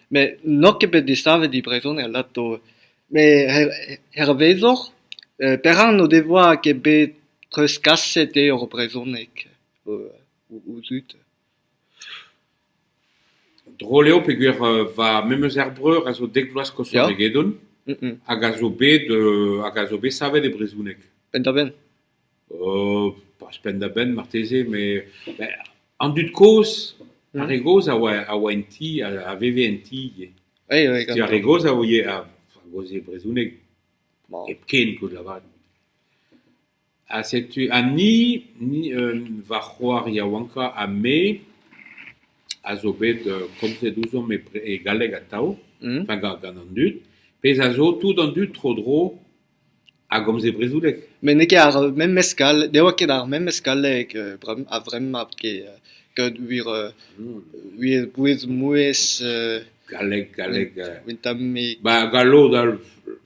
met n'on ket bet desavet e brezhoneg alato met hervezoc'h perak n'o devoa ket bet treuzkaset eo hor brezhoneg o zud drol eo peogwir va memezer breur a zo dek vloaz koshoc'h egedon hag a zo bet hag a zo bet savet e brezhoneg penn-da-benn euh pas penn-da-benn marteze met ben an dud kozh ar re gozh a oa a oa en ti a a veve en ti ivez Ai ai tu ar re gozh a ouie a a gozh e brezhoneg Ma. hepken koulz lavaret ha setu ha ni ni euh va c'hoar yaouankañ ha me a zo bet euh, komzet ouzhomp e bre- e galleg atav Mhm. enfin gant gant an dud pezh a zo tout an dud tro-dro a gomze brezhoneg. Met n'eo ket ar memes skal, ne oa ket ar memes galleg a-vremañ ket, gant wir wir bouez-mouezh euh... Galleg, galleg... un tammig... Ba gallod al...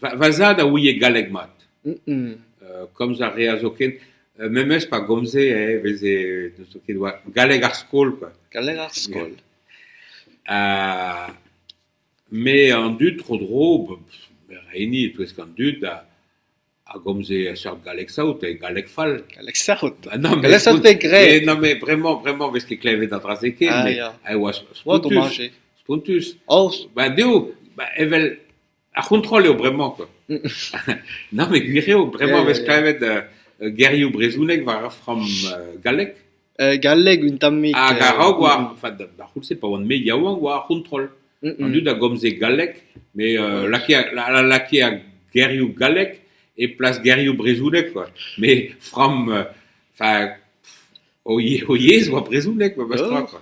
Va, va zad a ouie galleg mat. komz a reas zoken, memes pa gomze eh veze n'eus ket oa galleg ar skol quoi. Galleg ar skol. Ha Me an dud tro-dro, reini e-touesk an dud a gomze seurt galleg saout, galleg fall. Galleg sec'hout. Non mais graet. Non mais bremañ bremañ 'vez ket klevet an dra-se ken. Ah ya. E oa spontus. Spontus. Oh. Ba dezho, ba evel ar c'hontrol eo bremañ quoi. Non mais gwir eo, bremañ 'vez klevet gerioù brezhoneg war ar framm gallek. galleg un tammig... Hag a-raok war... Enfin, d'ar c'houlz-se, pa oan-me yaouank, war ar c'hontrol. An dud a gomze galleg, me lakae ar gerioù gallek e plas gerioù brezhoneg, quoi. Me framm... Enfin, o yezh oa brezhoneg, memes tra, quoi.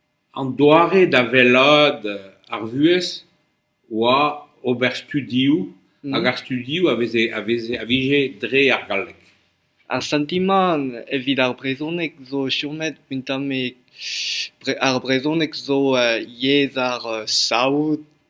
An doare da wellaat ar vuhez oa ober studioù hag ar studioù a veze a veze a vije dre ar galleg. Ar santimant evit ar brezhoneg zo chomet un tammig bre- ar brezhoneg zo yezh ar saout.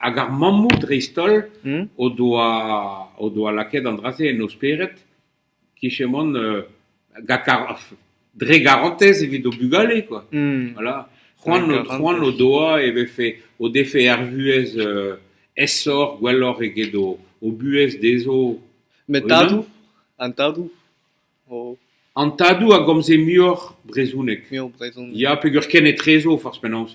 Hag ar mammoù dreist-holl o doa o doa lakaet an dra-se en o spered, kichen mont gant ar dre garantez evit o bugale quoi. Voilà. C'hoant c'hoant o doa e vefe o defe ar vuhez aesoc'h, gwelloc'h eget o o buhez dezho Met tadoù, an tadoù o... An tadoù a gomze muioc'h brezhoneg. Muioc'h brezhoneg. Ya, peger ken etrezo forzh penaos.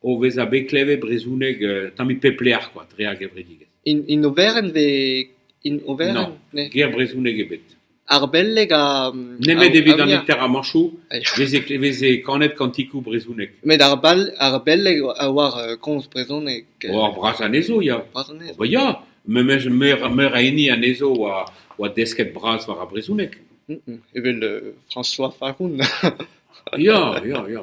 o vezañ bet klevet brezhoneg tammig pep lec'h kwa dre ar gevredigezh. In oberenn ve in oberenn? Non, ger brezhoneg ebet. Ar beleg ha... Nemet evit an interamañchoù e veze kanet kantikoù brezhonek. Met ar beleg a oar komz brezhoneg. Oar bras anezho ya. Bras anezho. Ober ya, meur a hini anezho oa desket bras war ar brezhoneg. Evel François Faroun. ya, ya, ya.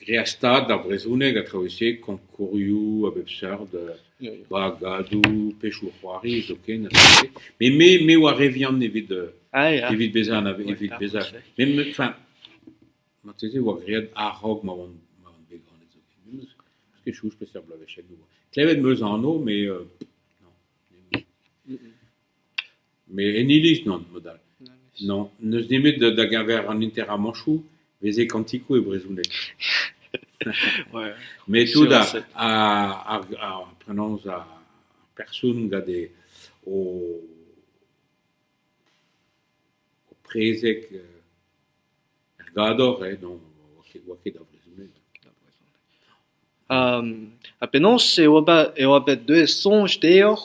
Graet ar stad ar brezhoneg a traoù-se koñkourioù a bep seurt, bagadoù, pechoù-c'hoari zoken a se. Me me me oar re vihan evit ah ya evit bezañ anave- evit bezañ met me enfin marteze e oa graet a-raok ma oan ma oan bet ganet zoken. Me 'meus ket chouz peseurt bloavezhioù. Klevet 'meus anv met non. met en iliz nann mod-all. Nann, n'eus nemet da-geñver an enterramañchoù 'veze kantikoù e brezhoneg. met tout ar ar ar penaos ar person gant e o o prezeg er gador eh non 'oa ket da vrezhoneg. Ha penaos eo bet deuet soñj deoc'h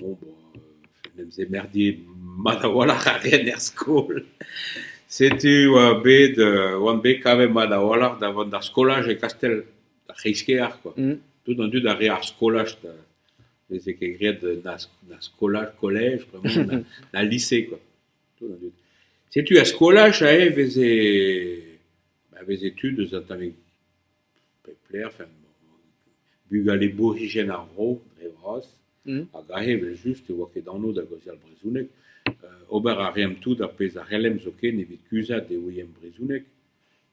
Bon bah en em zemerdier mat a-walc'h ar re en er skol. Setu oa bet euh oan bet kavet mat a-walc'h da vont d'ar skolaj e Kastell, d'ar c'hreiz-kêr quoi. Mm. Tout an dud a rae ar skolaj da veze ket graet na na skolaj, kolej, vraiment na lise quoi. Tout an dud. Setu er skolaj aze 'veze, a veze tud eus an tavig pep lec'h en bugale borigen ar vro dre vras hag aze evel-just ne oa ket anv da gaozeal brezhoneg. ober a reemp tout ar pezh a c'hellemp zoken evit kuzhat e ouiemp brezhoneg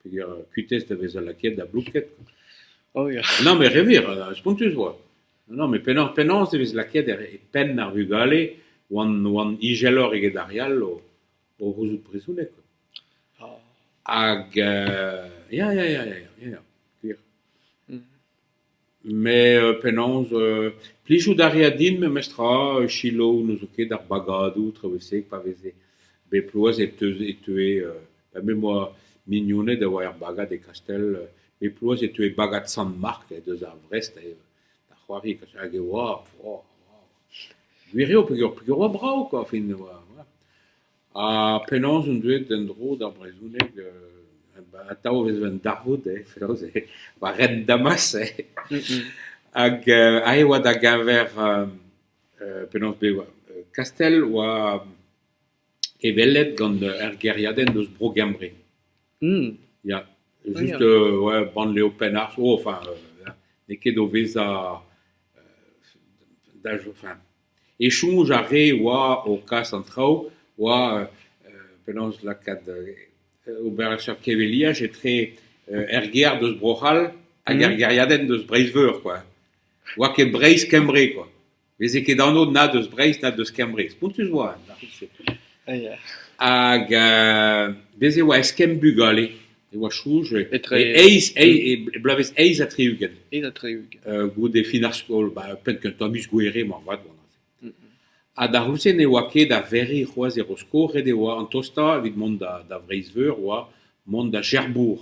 peger kuitez da vezañ lakaet da blouked. Non met re wir, spontus 'oa. Non met penaos penaos e vez lakaet e penn ar vugale 'oant 'oant ijelloc'h eget ar re all o o c'houzout brezhoneg. Hag ya, ya, ya, ya, ya, gwir. Met penaos euh, plijout a rea din memestra euh, selaou n'eus ket ar bagadoù traoù-se pa veze bet bloaz e teue, e teue euh, ben me 'moa mignoned a oa er bagad e Kastell, bet bloaz e teue bagad Sant-Mark deus ar Vrest, da c'hoari hag e oa, Gwir eo peogwir oa brav kwa fin oa ha penaos on deuet en-dro d'ar brezhoneg atav e ven darvoud eh penaos eh va ren Damas eh hag aze oa da geñver penaos bezañ Kastell oa hevelep gant ur gêriadenn eus Bro-Gembre. Ya, just ouais, Banlieue Penarth, oh enfin n'eo ket o vezañ da enfin esoñj ar re oa o kas an traoù oa penaos lakaat ober seurt keveliaj etre er gêr deus Bro-C'hall hag er gêriadenn deus Breizh-Veur quoi. Oa ket Breizh-Kembre quoi. veze ket anv na deus Breizh na deus Kembre. Spontus oa da c'houlz-se. Hag euh, bez' e oa eskemm bugale. E oa soñj Etre- e eizh, eizh- e bloavezh eizh ha tri-ugent Eizh ha tri-ugent. euh, goude fin ar skol, ba, penn-kentañ miz Gouhere moarvat oa neuze. Ha da c'houlz-se ne oa ket da verriñ c'hoazh e Rosko, ret e oa an tostañ evit mont da, da Vreizh-Veur oa mont da Cherbourg.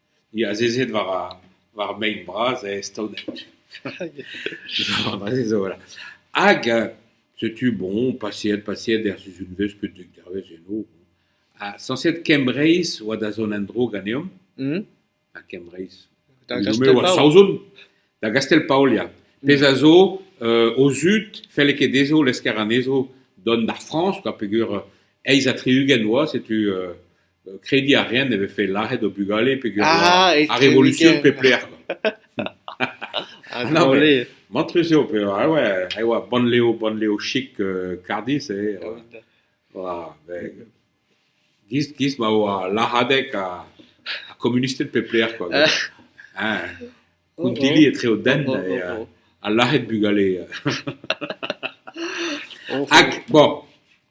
Ni azezet war ar war mein bras e staoneg. Aze zo voilà. Hag setu bon paseet paseet er sizunvezh ket dek dervezh eno. Ha sañset Kembreiz oa da zont en-dro ganeomp. Ha Kembreiz. Goude-se e oa Saozon. Da Gastell-Paol ya. Pezh a zo o zud felle ket dezho lesker anezho dont d'ar Frañs, quoi, peger eizh ha tri-ugent oa, setu Krediñ a reent e vefe lazhet o bugale peger ar revolutsion pep lec'h. No, mais mantrus eo pevar e oa, e oa bannlev, bannlev chik euh, Cardiff eh, voilà, ben, gist, gist ma oa lazhadeg ha komunisted pep lec'h quoi. Hein, kountilli etre o dent et euh, ha lazhet bugale. Hag, bon,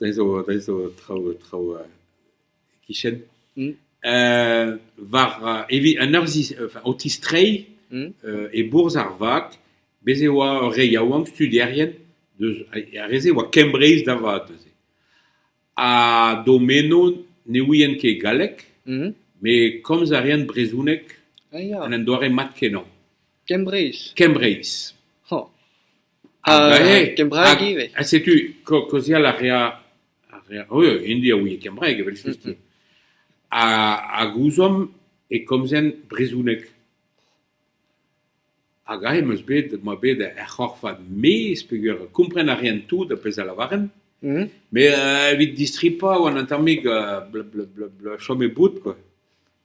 da zo, da zo traoù, traoù euh, e-kichen war evit an eur zi o tistreiñ e-bourzh ar vag. Bez' e oa ur re yaouank studierien deus ar re-se e oa Kembreiz da vat neuze. Ha d'o meno ne ouient ket galleg met komz a reent brezhoneg en un doare mat-kenañ. Kembreiz. Kembreiz. Ha kembraeg ivez. Ha setu ko- kaozeal a rea a rea eu hindi a ouie kembraeg evel-just. Ha hag ouzomp e komzen brezoneg. Hag aze em eus bet, m'oa bet er c'horfad maez peger kompren a ren tout ar pezh a lavaren. Mhm. Me, euh, evit distripañ oan an tammig euh, bla bla bla bla chome bout quoi.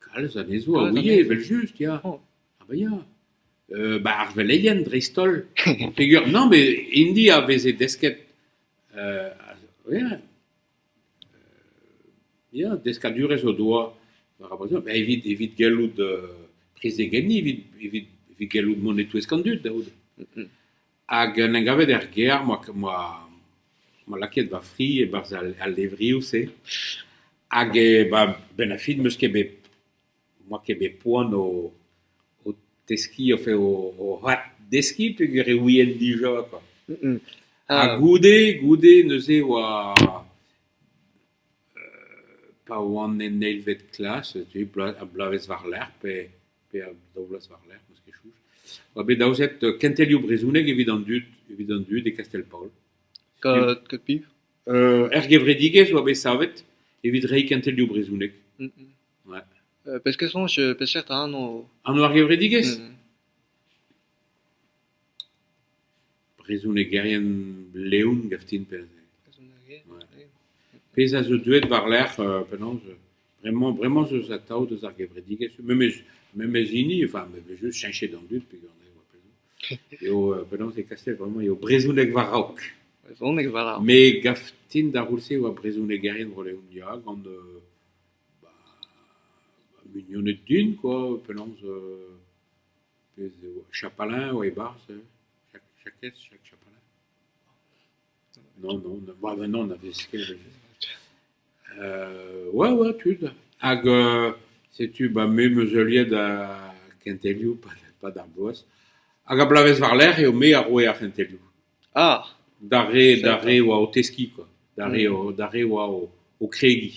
Kalz anezho a ouie evel-just, ya, ha ba ya. Ba ar veleien dreist-holl, peger nann met hini a veze desket euh ya ya deskadurezh o doa war ar brezhoneg, evit evit gellout prezegenniñ, evit evit evit gellout mont e-touesk an dud da c'houde. Hag en em gavet er gêr 'moa lakaet va fri e-barzh al levrioù-se. Hag a-benn ar fin 'm eus ket bet, 'moa ket bet poan o teskiñ enfin o addeskiñ peogwir e ouien dija kwa. Ha goude, goude neuze 'oa pa oan en eilvet klas, bloavezh war-lerc'h pe... pe a daou vloaz war-lerc'h, n'eus ket soñj, oa bet aozet kentelioù brezhoneg evit an dud, evit an dud e Kastell-Paol. Kat ket piv? Er gevredigezh oa bet savet evit reiñ kentelioù brezhoneg. Ouais. Peseurt soñj, peseurt anv? Anv ar gevredigezh? Brezhonegerien leon gav din pezh a zo deuet war-lerc'h penaos bremañ bremañ zo atav deus ar gevredigezh memes memes hini enfin me vez just cheñchet an dud eo penaos e kaset bremañ eo brezhoneg war-raok brezhoneg war-raok me gav din d'ar c'houlz-se e oa brezhonegerien vro-leon ya gant mignoned din quoi penaos Pezh eo chapalin eo e-barzh hein Jakez Jacques Chapalin non non non na vez ket ouais ouais tud hag setu ba me meuzeuliet da kentelioù pad ar bloaz hag a-blavezh war-lerc'h eo me a roe ar c'hentelioù ah d'ar re d'ar re oa o teskiñ quoi d'ar re oa o kregiñ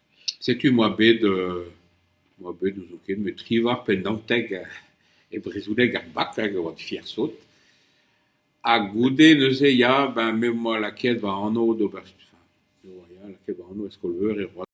Setu e oa bet euh oa bet n'ouzon ket met tri vloaz pe naontek e brezhoneg ar bac hag e oa fier sot. Ha goude neuze ya ben me 'moa lakaet va anv d'ober, enfin me 'oa ya lakaet va anv e skol-veur e Roazhon.